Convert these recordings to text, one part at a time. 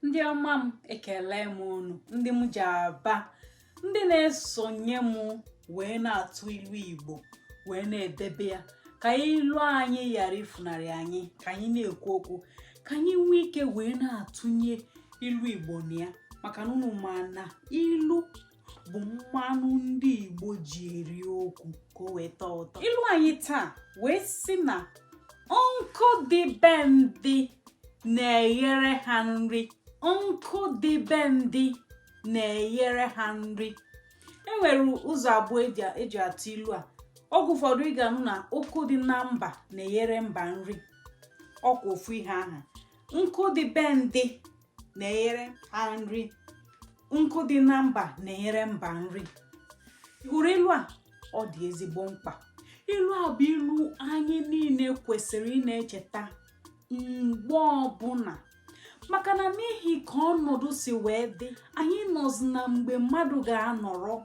ndị ọma m ekele m unu ndị m ji aba ndị na-esonye m wee na-atụ ilu igbo wee na-edebe ya ka ilu anyị ghara ifunarị anyị ka anyị na-ekwu okwu ka anyị nwee ike wee na-atụnye ilu igbo na ya maka na unu ma na ilu bụ mmanụ ndị Igbo ji eri okwu ka o wee tọọ ụtọ ilu anyị taa wee sị na nkụ dị be ndị na-eghere ha nri nkụ dị be ndị na-eghere ha nri e nwere ụzọ abụọ eji atụ ilu a oge ụfọdụ ị ga-anụ na nkụ dị na mba na-eghere mba nri ọkwa ofu ihe aha nkụ dị be ndị na-eghere ha nri nkụ dị na mba na-eghere mba nri ị hụrụ ilu a ọ dị ezigbo mkpa ilu a bụ ilu anyị niile kwesịrị ị na-echeta mgbe ọbụla maka na n'ihi ka ọnọdụ si wee dị anyị nọzi na mgbe mmadụ ga-anọrọ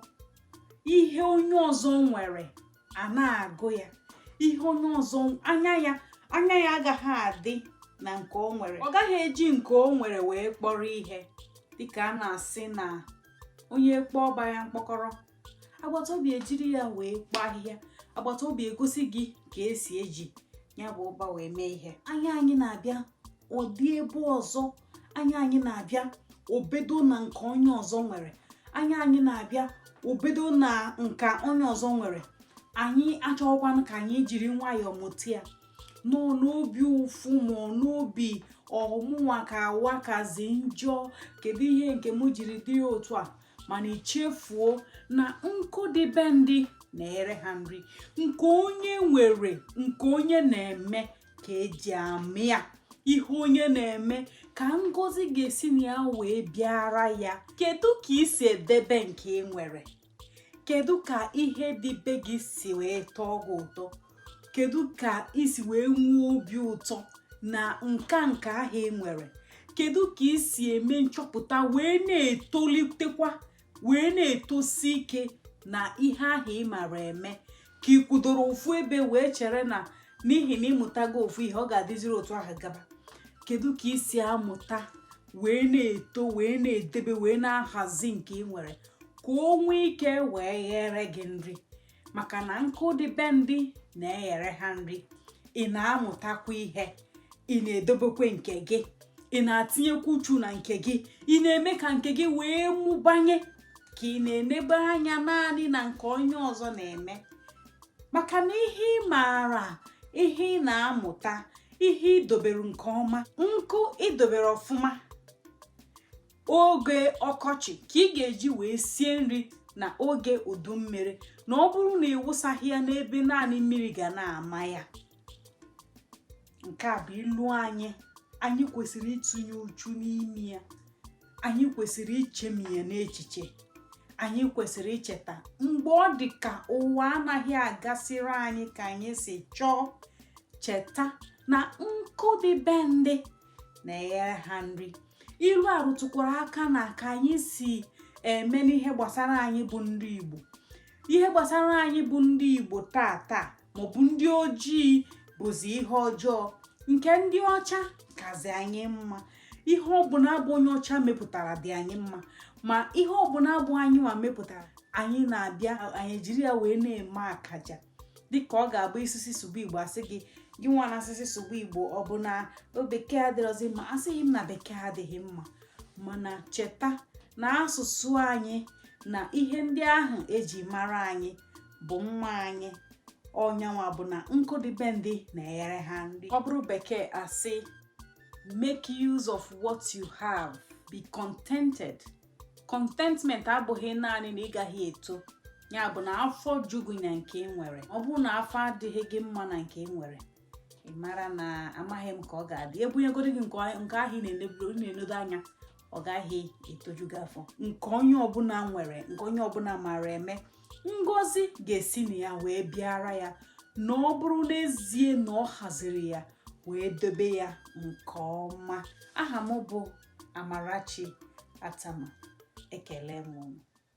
ihe onye ọzọ nwere a na-agụ ya ihe onye ọzọ anya ya anya ya agaghị adị na nke o nwere ọ gaghị eji nke o nwere wee kpọrọ ihe dịka a na-asị na onye kpọọ ọba ya mkpọkọrọ agbata obi ejiri ya wee kpoo ahịhịa agbata obi egosi gị ka esi eji ya bụ ọba wee mee ihe anya anyị na-abịa ọ dị ebe ọzọ anya anyị na-abịa o bedo na nke onye ọzọ nwere anya anyị na-abịa o bedo na nka onye ọzọ nwere anyị achọghịkwanụ ka anyị jiri nwayọọ mụta ya nọ n'obi ụfụ ma n'obi ọ mụnwa ka ụwa kazi njọ kedu ihe nke m jiri dị ya otu a mana i chefuo na nkụ dị be ndị na-eghere ha nri nke onye nwere nke onye na-eme ka eji ama ya ihe onye na-eme ka ngozi ga-esi na ya wee bịara ya kedu ka ị si edebe nke ị nwere kedu ka ihe dị be gị si wee tọọ gị ụtọ kedu ka ị si wee nwee obi ụtọ na nka nke ahụ ị nwere kedu ka ị si eme nchọpụta wee na-etolitekwa wee na-etosi ike na ihe ahụ ị mara eme ka ị kwudoro ofu ebe wee chere na n'ihi na ị mụtago ofu ihe ọ ga-adịziri otu ahụ gaba kedu ka ị si amụta wee na-eto wee na-edebe wee na-ahazi nke ị nwere ka o nwee ike wee ghere gị nri maka na nkụ dị be ndị na-eghere ha nri ị na-amụtakwa ihe ị na-edobekwe nke gị ị na-atinyekwa uchu na nke gị ị na-eme ka nke gị wee mụbanye ka ị na-enebe anya naanị na nke onye ọzọ na-eme maka na ihe ị maara ihe ị na-amụta ihe i dobere nke ọma nkụ i dobere ọfụma oge ọkọchị ka ị ga-eji wee sie nri na oge udu mmiri na ọ bụrụ na ị wụsaghị ya n'ebe naanị mmiri ga na-ama ya nke a bụ ilu anyị anyị kwesịrị ịtụnye uchu n'ime ya anyị kwesịrị ichemi ya n'echiche anyị kwesịrị icheta mgbe ọ dị ka ụwa anaghị agasịrị anyị ka anyị si chọọ cheta na nkụ dị be ndị na-eghere ha nri ilu a rụtụkwara aka na ka anyị si eme n'ihe gbasara anyị bụ ndị Igbo ihe gbasara anyị bụ ndị Igbo taa taa maọbụ ndị ojii bụzi ihe ọjọọ nke ndị ọcha kazi anyị mma ihe ọbụla bụ onye ọcha mepụtara dị anyị mma ma ihe ọbụla bụ anyị nwa mepụtara anyị na-abịa anyị jiri ya wee na-eme akaja dịka ọ ga-abụ ị sị sị sụba Igbo a sị gị gị nwa na-asị sị sụba Igbo ọ bụ na bekee adịrọzi mma asịghị m na bekee adịghị mma mana cheta na asụsụ anyị na ihe ndị ahụ e ji mara anyị bụ mma anyị ọ nya nwa bụ na nkụ dị be ndị na-eghere ha nri ọ bụrụ bekee a sị make use of what you have be contented contentment abụghị naanị na ị gaghị eto ya bụ na afọ ju gị na nke ị nwere ọ bụrụ na afọ adịghị gị mma na nke ị nwere ị mara na amaghị m ka ọ ga-adị e bunyegodu gị nke ahụ ị na-enedo anya ọ gaghị etoju gị afọ nke onye ọbụla nwere nke onye ọbụla maara eme ngozi ga-esi na ya wee bịara ya na ọ bụrụ n'ezie na ọ haziri ya wee dobe ya nke ọma aha m bụ Amarachi Atama ekele m unu